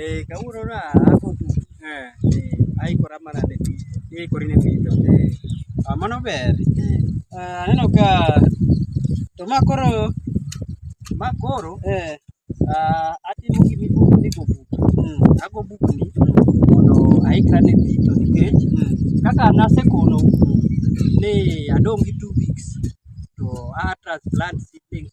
Eh, kawuono na ako tu. Eh, aikora mana ne pi. Aikori ne pi to. Ah, mano ber. Ah, aneno ka to ma koro ma koro eh ah, atimo gima iluongo ni go book. Ago book ni mondo aikra ne pi to nikech kaka nasekono ni adong' gi two weeks to a transplant seedlings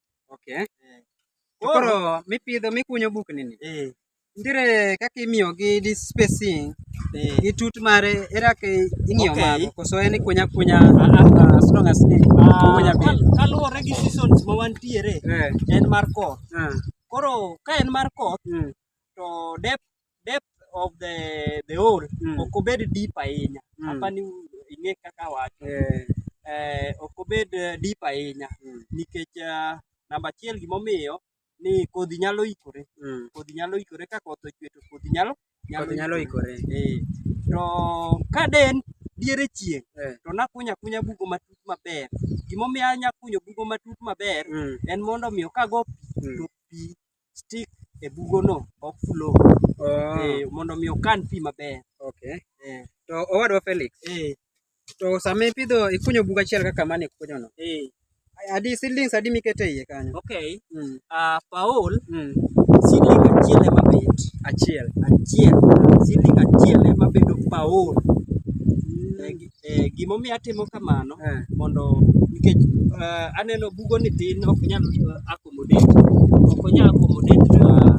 Okay. Eh. To koro mipidho mikunyo bukni ni. Eh. Ndire kaka imiyo gi this spacing. Eh. Gi tut mare era ke ing'iyo okay. mago koso en kunya kunya ah, ah. Ah, as long as ni ah, kunya piny. Kaluwore gi seasons ma wantiere eh. en mar koth. Eh. Koro ka en mar koth mm. to depth depth of the the hole mm. ok obed deep ahinya mm. apa ni ing'e kaka wacho eh. eh, ok obed eh, deep ahinya mm. nikech uh, namba achiel gimomiyo ni kodhi nyalo ikore mm. kodhi nyalo ikore ka koth ochwe to kodhi nyalo nyalo, nyalo ikore eh. to ka den diere chieng' eh. to nakunya kunya bugo matut maber gimomiyo anyakunyo bugo matut maber mm. en mondo omiyo kago pi mm. to pi stick e bugo no ok flow oh. eh, mondo mi okan pi maber okay. eh. to owadwa Felix eh. to sama ipidho ikunyo bugo achiel kaka mane ikunyo no eh. adi seedlings adi mikete iye kanyo okay. mm. uh, Paul mm. seedling achiel ema bet achiel achiel seedling achiel ema bedo Paul mm. Eh, gimomiyo atimo kamano eh. mondo nikech eh, aneno bugo ni tin ok nyal accommodate ok onyal accommodate ah,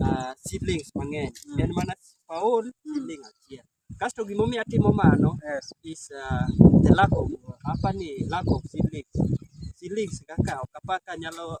ah, seedlings mang'eny mm. en mana paol mm. seedling achiel kasto gimomiyo atimo mano is ah, the lack of hapa ni lack of seedlings seedlings kaka ok apaka nyalo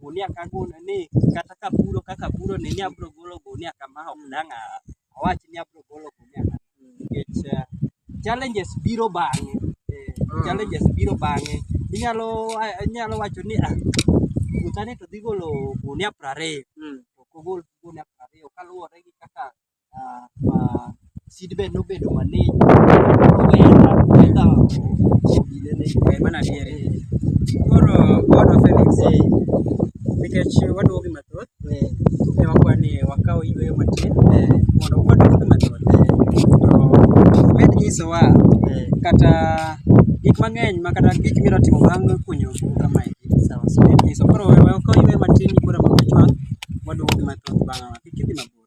gunia ka gunia ni kata ka puro kaka puro ni ni abro golo gunia kama ok dang' a- awach ni abro golo gunia kama. nikech eh, challenges biro bang'e Eh, Mm. challenges biro bang'e inyalo a- inyalo wacho ni ah puothani to dhi golo gunia prariyo Mm. to kogol gunia prariyo kaluwore gi kaka uh, seedbed nobedo malich omenda omenda odinene eh, mana diere koro bodo Felix eh. nikech waduogo gi mathoth ne eh. wakwa ni wakaw yweyo matin mondo waduog gi mathoth to med nyisowa kata gik mang'eny ma kata gik miro timo bang' kunyo kama nyiso koro wakaw yweyo matin koro mabechwang waduogo gi mathoth bang' kik idhi mabor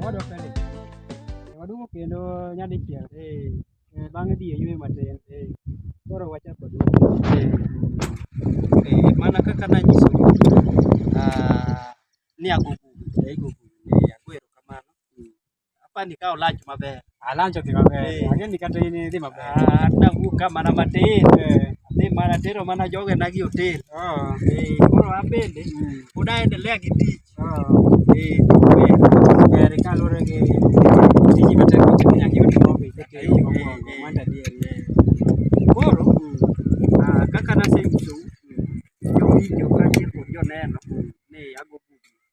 Owadwa Felix, eh, waduogo kendo nyadichiel eh, eh, bang'e dhi e yweyo matin eh, koro wachako duogo. Eh, mana kaka nanyiso ah, ni agogo eh, igogo eh, ago erokamano Hapa ni kao lunch mabe. Ah lunch ti mabe. Eh. Aje ni kata ni di mabe. Ah na buka mana matin. Eh. Ni mana tero mana joge na gi hotel. Ah. Eh koro abende. Hmm. Unaendelea gi tich. Ah. Eh. Kare kalore gi tiji bete kuti kunya gi hotel mabe. Eh. Manda di. Koro hmm. ah kaka na sasa hivi. Yo video kanje ko yo neno.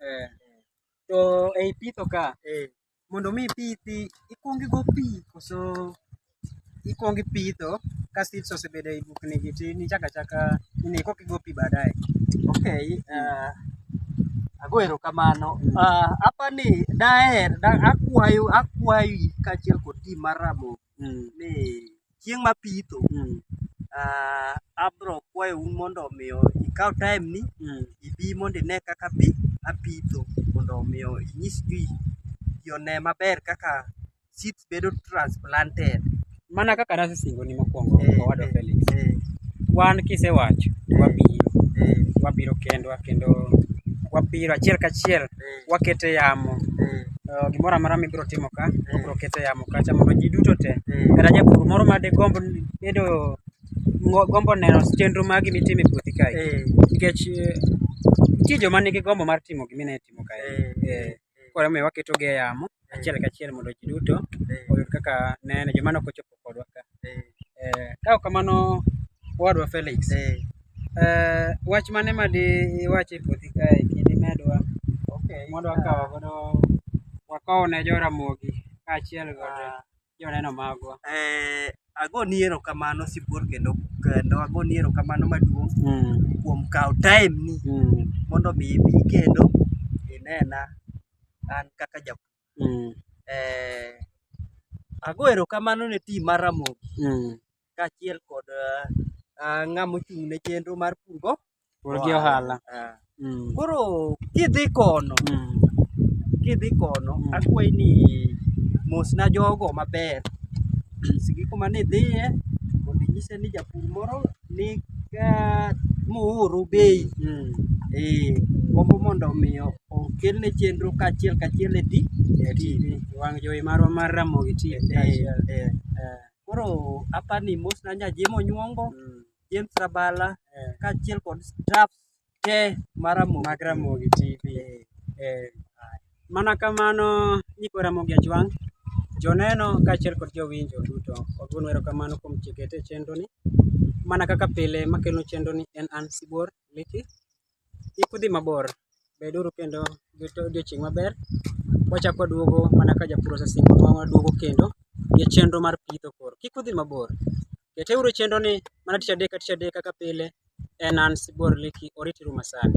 Eh. To ei pitho ka, Eh. mondo mi ipithi, ikwongo igo pi koso ikwongo ipitho ka seeds osebedo ei bukni gi to in ichako achaka nini koka igo pi baadaye. Okay, ah, ago erokamano. Ah, apani daher, da- akwayo, akwayi kaachiel kod tim mar Ramogi mm. ni chieng' ma pitho mm. uh, abro kwayo un mondo omiyo ikaw time ni mm. ibi mondo ine kaka bi apitho mondo omiyo inyis ji ji one maber kaka seeds bedo transplanted mana kaka nasesingo ni mokwongo eh, owadwa eh, Felix eh. wan kisewacho eh, wabiro eh. wabiro kendwa kendo wabiro achiel kachiel eh. wakete yamo eh. eh, gimoro amora mibiro timo ka obiro kete yamo kacha mondo ji duto te kata japur moro ma digomb bedo gombo neno chenro magi mitimo e puothi kae nikech nitie joma nigi gombo mar timo gimine timo kae koro omiyo waketogi e yamo achiel kachiel mondo ji duto oyud kaka nene joma nok ochopo kodwa ka. Eh, Ka ok kamano owadwa Felix, eh, wach mane ma di iwachi e puothi kae kidi medwa mondo wakaw godo wakow ne jo Ramogi kaachiel kod Joneno magwa. Eh, agoni erokamano sibuor kendo kendo agoni erokamano maduong' mm. kuom kawo time ni mm. mondo mi ibi kendo inena an kaka japur. Mm. Eh, ago erokamano ne tim mar Ramogi mm. kaachiel kod uh, ng'ama ochung' ne chenro mar purgo pur gi ohala uh, mm. koro kidhi kono mm. kidhi kono mm. akwayi ni mosna jogo maber nyisgi kuma nidhiye mondo inyise ni japur moro ni uh, muuru bei mm. e, gombo mondo omiyo okelne chenro kaachiel kaachiel e ti e tv wang' jowi marwa mar ramogi ti e, e, e, e. Koro apani mos na nya jemo nyuongo mm. James Rabala eh. kaachiel kod staff te mar Ramogi mag Ramogi TV eh. Eh. Mana kamano nyikwa Ramogi Ajwang' joneno kaachiel kod jowinjo duto waduon wero kamano kuom chikete chenroni mana kaka pile makelo chenroni en an Sibuor Liki kik udhi mabor beduru kendo gi odiochieng' maber wachako waduogo mana ka japur osesingo ma waduogo kendo gi chenro mar pitho koro kik udhi mabor keteuru chenro ni mana tich adek ka tich adek kaka pile en an Sibuor Leki oritiru masani